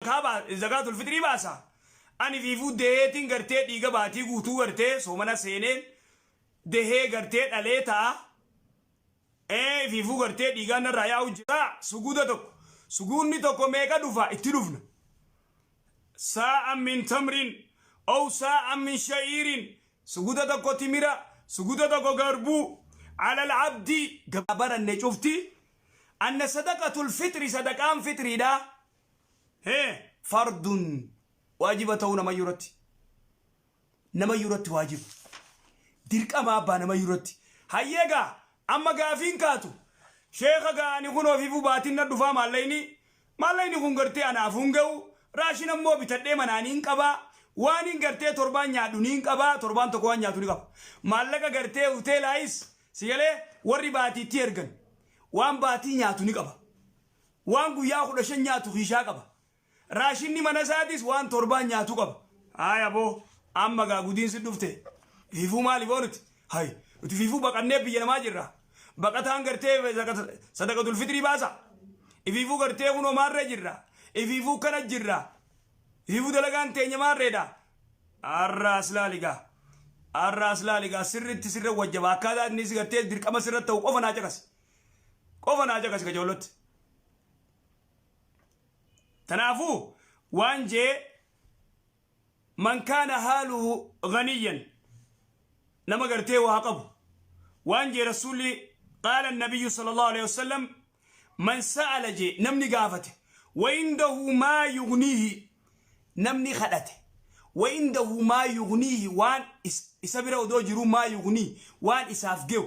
kaa ba zakaatul fixrii baasa ani fiifuu deheetiin gartee dhiiga baatii guutuu gartee soomana seeneen dehee gartee dhalee taa ee fiifuu gartee dhiigaan narraa yaa'u jira suguuda tokko suguunni tokko meeqa dhufa itti dhufna saa'a min tamrin ow saa'a min sha'iirin suguuda tokko timira suguuda tokko garbuu alal abdii gabaranne cufti anna sadaqatul fixri sadaqaan fitriidha hee fardun waajiba ta'uu namayyuu irratti namayyuu irratti waajiba dirqama abbaa namayyuu irratti hayyee gaa amma gaafiin kaatu sheeka gaa ani kun ofiifuu baatiin na dhufaa maallayni maallayni kun gartee anaaf hin ga'u raashin ammoo bitadhee manaan hin qabaa waan hin gartee torbaan nyaadhu niin qabaa torbaan tokko waan nyaatu ni qaba maallaqa gartee hoteelaayis sigalee warri baatiitti ergan waan baatii nyaatu ni qaba waan guyyaa 15 nyaatu kiishaa qaba. Raashinni mana isaatis waan torbaan nyaatu qaba. Haay aboo amma gaa gudiinsi dhufte fiifuu maaliif ooluti? Haay nuti fiifuu baqannee biyya namaa jirra. Baqataan gartee sadaqatul fitrii baasa. Ifiifuu gartee kunoo maarree jirra. Ifiifuu kana jirra. Ifiifuu dalagaan teenya maarreedha. Arra aslaaligaa. Arra aslaaligaa sirritti sirra wajjaba akkaataa inni si gartee dirqama sirra ta'u qofa naa caqasi. qofa naa caqasi ka joollatti tanaafuu waan jee man kaana haaluhu ganiyyan nama gartee waa qabu waan jee rasuulli qaala annabiyyu sala allahu alehi wasalam man sa'ala jee namni gaafate waindahu maa yugniihi namni kadhate waindahu maa yugniihi waan isa bira odoo jiruu maa yugnii waan isaaf ge'u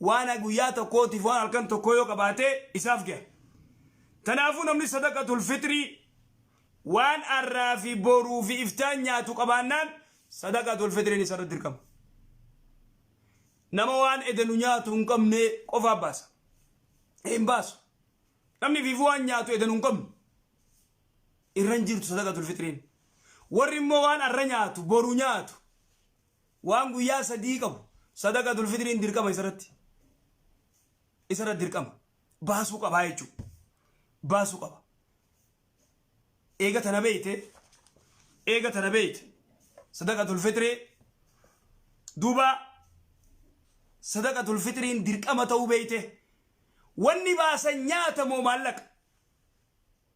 Waan guyyaa tokkootiif waan halkan tokkoo yoo qabaate isaaf gaha. Tanaafuu namni sadaqatul fixrii waan har'aa fi boruu fi iftaan nyaatu qabaannaan sadaqatul fixriin isarratti dirqama. Nama waan edenu nyaatu hin qabne qofaa baasa. Hin baasu. Namni fiifuu waan nyaatu edenu hin qabne. Irra hin jirtu sadaqatul fixriin. Warri immoo waan har'a nyaatu boru nyaatu. Waan guyyaa sadii qabu sadaqatul fitriin dirqama isarratti isarra dirqama baasuu qabaa jechuudha. Baasuu qaba. Eega tana beeyte eega tana beeyte sadaqatul fitrii duuba sadaqatul fitriin dirqama ta'uu beeyte wanni baasan nyaata moo maallaqa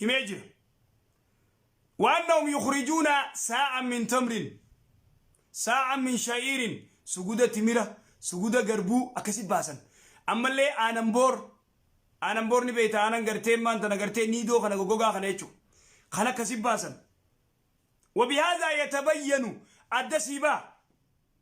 himee jira waannahum yukhrijuuna saa'an min tamrin saa'an min sha'iirin suguda timira suguda garbuu akkasi baasan ammallee aanan boor aanan boor ni beeyta aanan gartee maan tana gartee niidoo kana gogogaa kana jechuun kan akkasi baasan wabihaazaa yatabayyanu adda siibaa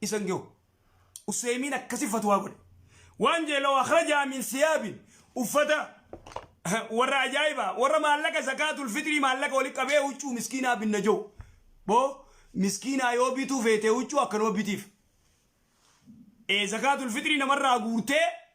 isan gehu useemiin akkasi fatwaa godhe waan jee law akhrajaa min siyaabin uffata warra ajaa'iba warra maallaqa zakaatul fitrii maallaqa wali qabee huccuu miskiinaa binna jehu boo miskiinaa yoo bituu feetee huccuu akkanuma bitiif ee zakaatul fitrii namarraa guurtee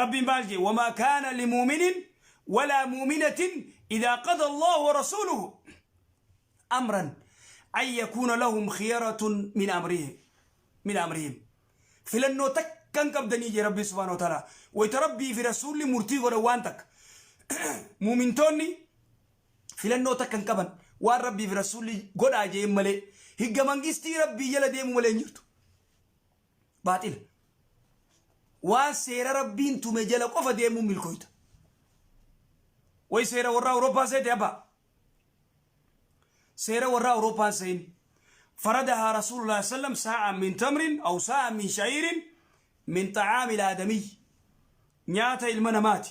Rabbiin maal jee wamaa kaana limuuminin walaa muuminatin idaa qada Allaahu wa rasuuluhu amran an yakuuna lahum khiyaratun min amrihim min amrihim filannoo takka hin qabdanii jee Rabbiin subhaanahu wa ta'aalaa wayta Rabbii fi rasuulli murtii godhan waan takka muumintoonni filannoo takka hin qaban waan Rabbii fi rasuulli godhaa jeen malee higga mangistii Rabbii jala deemu malee hin jirtu baaxila. Waan seera Rabbiin tume jala qofa deemuun milkooyta. Way seera warraa Awurooppaa seete abbaa. Seera warraa Awurooppaan seeni. Faradahaa Rasuulullah sallam saa'an min tamrin aw saa'an min sha'iirin min xa'aamil aadamiyyi. Nyaata ilma namaati.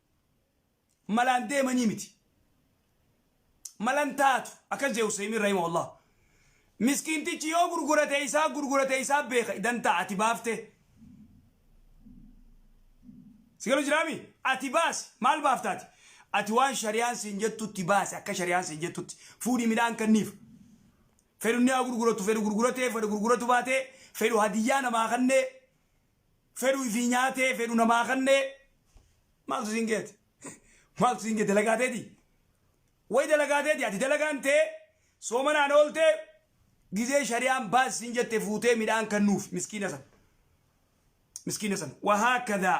malaan deemanii miti malan taatu akkas jee Husseemin Rahima Allah miskiintichi yoo gurgurate isaa gurgurate isaa beeka dantaa ati baafte sigalu jiraami ati baasi maal baaftaati ati waan shari'aan siin jettutti baasi akka shari'aan siin jettutti fuudhii midhaan kanniif fedhu ni haa gurguratu fedhu gurguratee fedhu gurguratu baatee fedhu hadiyyaa namaa kannee fedhu ifii nyaatee fedhu namaa kannee maaltu siin geete maaltu siin geete dalagaa teeti way dalagaa teeti ati dalagaan tee soomanaan ooltee gizee shari'aan baas siin jette fuutee midhaan kannuuf miskiina san miskiina san wahaakada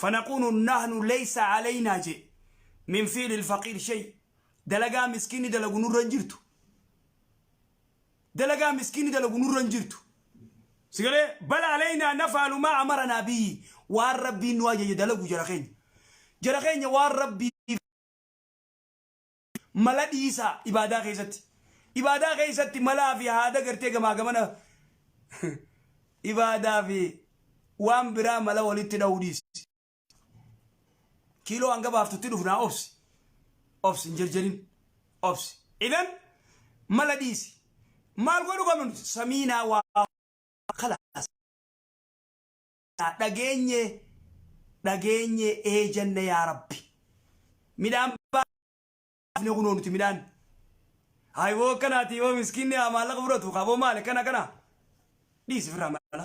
fanaqunu nahnu leysa alaynaa jee min fiili ilfaqiir shay dalagaa miskiinni dalagu nurra hin jirtu dalagaa miskiinni dalagu nurra hin jirtu. Sigalee bal aleynaa nafaalu maa amaranaa biyyi waan rabbiin nu ajaje dalagu jara keenya. Jara keenya waan rabbii mala dhiisaa ibaadaa keessatti. Ibaadaa keessatti malaa fi haada gartee gamaa gamana ibaadaa fi waan biraa mala walitti dha'uu dhiisi. kiiloo hanga baaftutti dhufnaa obsi obsi hin jerjerin obsi idan mala dhiisi maal godhu qabnu nuti samiinaa waa kalaas dhageenye dhageenye eejanna yaa rabbi midhaan baafne kunoo nuti midhaan hayboo akkanaati yoo miskiinni maallaqa fudhatu kaboo maali kana kana dhiisi firraa mala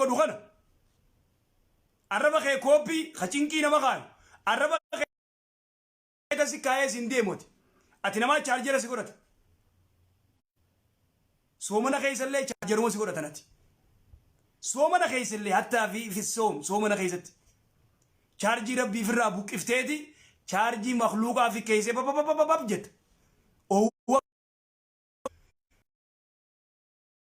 godhu kana arraba kee kooppii ka cinqii nama kaayu arraba kee kasi kaayee siin deemoti ati namaa chaarjera si godhata soomana keessallee chaarjeruma si godhatan ati soomana keessallee hattaa fi fissoom soomana keessatti chaarjii rabbii firraa buqqifteeti chaarjii makluuqaa fi keessee bababababab jetta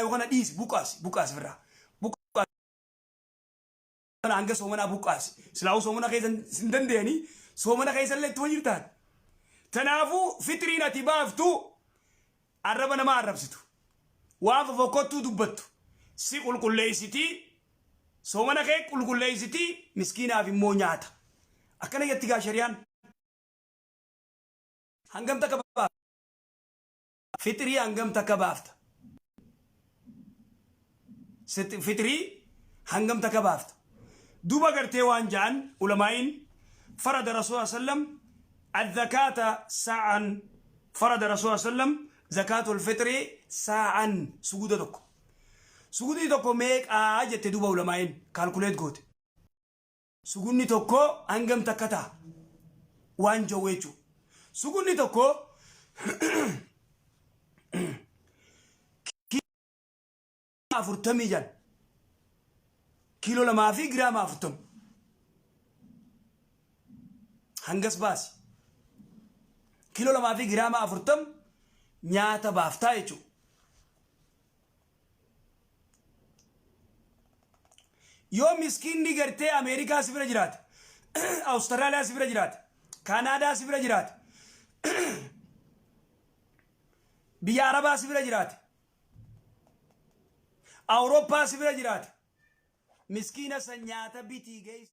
Yoo kana dhiisi buqqaasi buqqaasi firraa. Buqqaasi kana hanga soomanaa buqqaasi. Silaa'uu soomana keessa hin dandeenyanii soomana keessa illee itti wajjin taate. Tanaafuu fitiriin ati baaftu arraba namaa arrabsitu. Waan fofokkottuu dubbattu si qulqulleessiti soomana kee qulqulleessiti miskiinaaf immoo nyaata. Akkana jetti gaa shariyaan. Hangam takka baafta? Fixrii hangam takka baafta? Fixrii hangam takka baafta? Duuba gartee waan ja'an ulamaa'iin farada Rasuul sallallahu alaihi wasallam azzakaata saa'an farada Rasuul sallallahu alaihi wasallam zakaatul fixri saa'an suguda tokko. Sugudni tokko meeqaa jette duuba ulamaa'iin kaalkuleet goote. Sugunni tokko hangam takka taha? Waan jawwe jechuudha. Sugunni tokko kiiloo afurtamii jan kiiloo lamaa fi giraama afurtama hangas baasi. Kiiloo lamaa fi giraama afurtama nyaata baaftaa jechuudha. yoo miskiinni gartee ameerikaa si bira jiraate awustiraaliyaa si bira jiraate kaanaadaa si bira jiraate biyya arabaa si bira jiraate awurooppaa si bira jiraate miskiina san nyaata bitii geessi